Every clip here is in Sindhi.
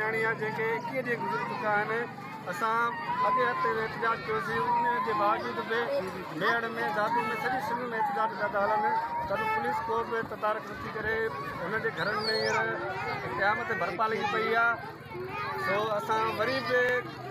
نياڻيان جنهن کي ايڪيهه ڏينهن گذري چڪا آهن اسان اڳئين هفتي به احتجاج ڪيوسين ان جي باوجود به ميهڙ ۾ دادو ۾ سڄي سنڌ ۾ احتجاج پيا ٿا هلن ته به پوليس ڪو به تدارڪ نٿي ڪري هن جي گهرن ۾ هينئر قيامت برپا لڳي پئي آهي سو اسان وري به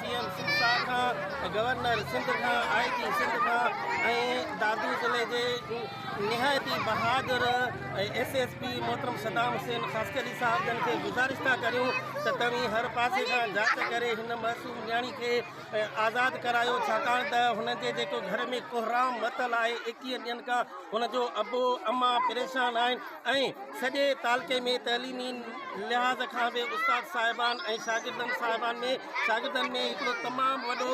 سي ايم سنڌ صاحب کان، گورنر سنڌ کان، آء جي سنڌ کان ۽ دادو ضلعي جي نهايت ئي بهادر ايس ايس پي محترم صدام حسين خاصخيلي صاحب جن کي گذارش ٿا ڪريون ته توهين هر پاسي کان جاچ ڪري هن معصوم نياڻي کي آزاد ڪرايو ڇاڪاڻ ته هن جي جيڪو گهر ۾ ڪهرام متل آهي ايڪيهه ڏينهن کان هن جو ابو اما پريشان آهن ۽ سڄي تعلقي ۾ تعليمي لحاظ کان به استاد صاحبان ۽ شاگردن صاحبان ۾ شاگردن ۾ هڪڙو تمام وڏو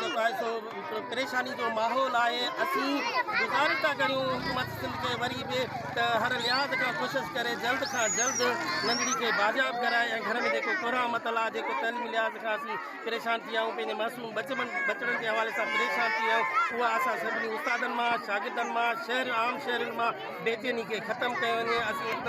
جيڪو آهي سو پريشاني جو ماحول آهي اسين گذارش ٿا ڪريون حڪومت سنڌ کي وري به ته هر لحاظ کان ڪوشش ڪري جلد کان جلد ننڍڙي کي بازياب ڪرائي ۽ گهر ۾ جيڪو ڪورا متل آهي جيڪو تعليمي لحاظ کان اسين پريشان ٿي ويا آهيون پنهنجي معصوم ٻچڙن ٻچڙن جي حوالي سان پريشان ٿي ويا آهيون اها اسان سڀني استادن مان شاگردن مان شهر عام شهرين مان بيچيني کي ختم ڪيو وڃي اسين